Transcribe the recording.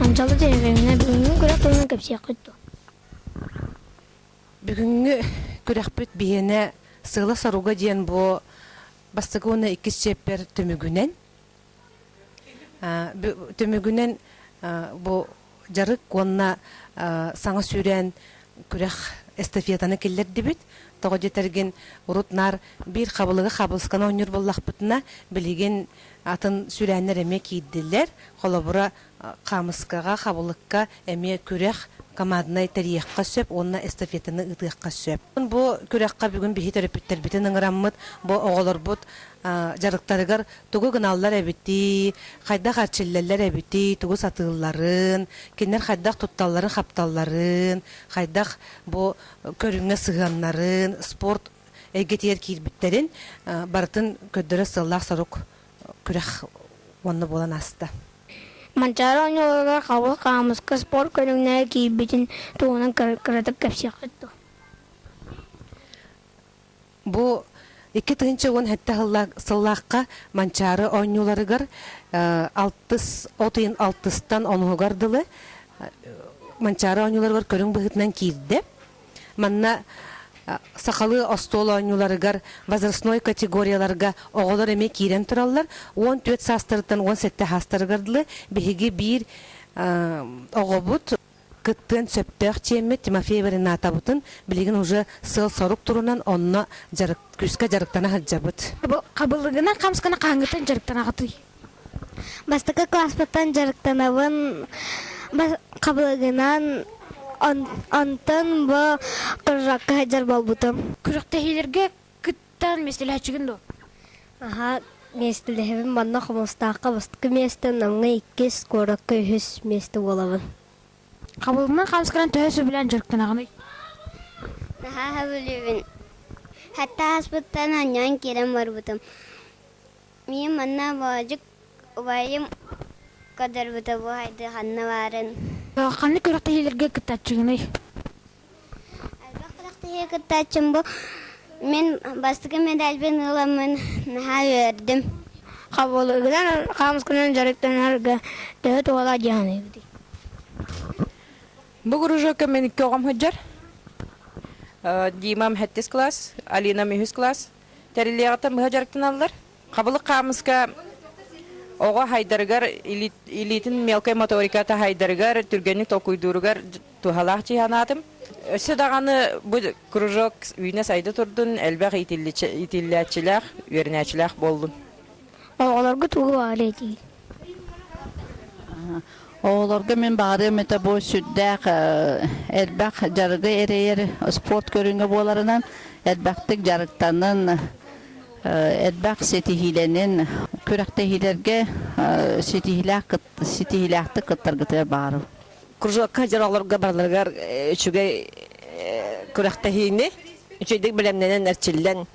Анчалы деревеньне бүгүҥҥү күрэх тылынан кэпсиэххит дуо? Бүгүҥҥү күрэхпит биһиэнэ Сыыла соруга диэн бу бастакы уонна иккис чиэппэр түмүгүнэн Түмүгүнэн бу дьарык уонна саҥа сүүрээн күрэх эстафетаны киллэрдибит. Тоҕо диэтэргин, урут наар биир хабылыгы хаабылысканы оонньуур буоллахпытына, билигин атын сүүрээннэр эмиэ киирдилэр. Холобура, хаамыскаҕа, хабылыкка эмиэ күрэх, команднай тэрийиэххэ сөп уонна эстафетаны ыытыахха сөп. Бу күрэххэ бүгүн биһи төрөппүттэрбитин ыҥыраммыт, бу оҕолорбут дьарыктарыгар тугу гыналлар эбитий, хайдах эрчиллэллэр эбитий, тугу сатыылларын, кинилэр хайдах тутталларын-хапталларын, хайдах бу көрүҥҥэ сыһыаннарын, спорт эйгэтигэр киирбиттэрин барытын көрдөрөр сыаллаах сорук күрэх уонна буолан ааста. Манчаары онньууларыгар Хабыл хаамыска спорт көрүҥнэрэ киирбитин туһунан кыратык кэпсиэххит дуо? Бу икки тыһыынча уон сэттэ сыллаахха Манчаары оонньууларыгар алтыс от ыйын алтыстан онуһугар дылы Манчаары оонньууларыгар көрүҥ быһыытынан киирдэ. Манна сахалыы остуол оонньууларыгар, возрастной категорияларга оҕолор эмиэ киирэн тураллар, уон түөрт саастарыттан уон сэттэ саастарыгар дылы биһиги биир оҕобут кыттыан сөптөөх чиэммит Тимофей Варинатабытын билигин уже сыал-сорук турунан онно күүскэ дьарыктана сылдьабыт. Хабылыгынан хамскана хаһыҥҥытын дьарыктанаҕытый? Бастакы кылааспыттан дьарыктанабын хабылыгынан онтон бу прожекка сылдьар буолбутум. Күрэхтэһиилэргэ кыттан миэстэлэһэччигин дуо? Аһаа, миэстэлэһэбин манна Хомустаахха бастакы миэстэ, Намҥа иккис, куоракка үһүс миэстэ буолабын. Хабылыгынан хаалысканан төһө сөбүлээн дьарыктанаҕыный? Наһаа сөбүлүүбүн. Хатта ааспыттан анньан киирэн барбытым. Миигин манна Боодьук убайым көрдөрбүтэ буһайдыы ханна баарын. Ханнык күрэхтэһиилэргэ кыттааччыгыный? Элбэх күрэхтэһии кыттааччым бу. Мин бастакы медальбын ыыламмын наһаа үөрдүм. Хабылыгынан хаамысканан дьарыктанарга төһө туһалаах дии саныыгытый? Бу кружокка мин көҕөм сылдьар. Димам сэттис класс, Алинам үһүс класс. Тэрилиэҕиттэн быһа дьарыктаналлар. Хабылык хаамыска оҕо хайдарыгар, илиитин мелкай моторика таһайдарыгар, түргэнник толкуйдууругар туһалаах дии санаатым. Өссө даҕаны бу кружок үүнэ-сайда турдун, элбэх иитиллээччилээх, үөрэнээччилээх буоллун. Оҕолорго тугу баҕарыа этиҥ? Оҕолорго мин баарым этэ бу сүрдээх элбэх дьарыгы эрэйэр спорт көрүҥэ буоларынан элбэхтик дьарыктанын, элбэх ситиһиилэнин, күрэхтэһиилэргэ ситиһиилээхтик кыттаргытыгар баарым. Кружокка дьорлорго барыларыгар үчүгэй күрэхтэһиини, үчүгэйдик бэлэмнэнэн, эрчиллэн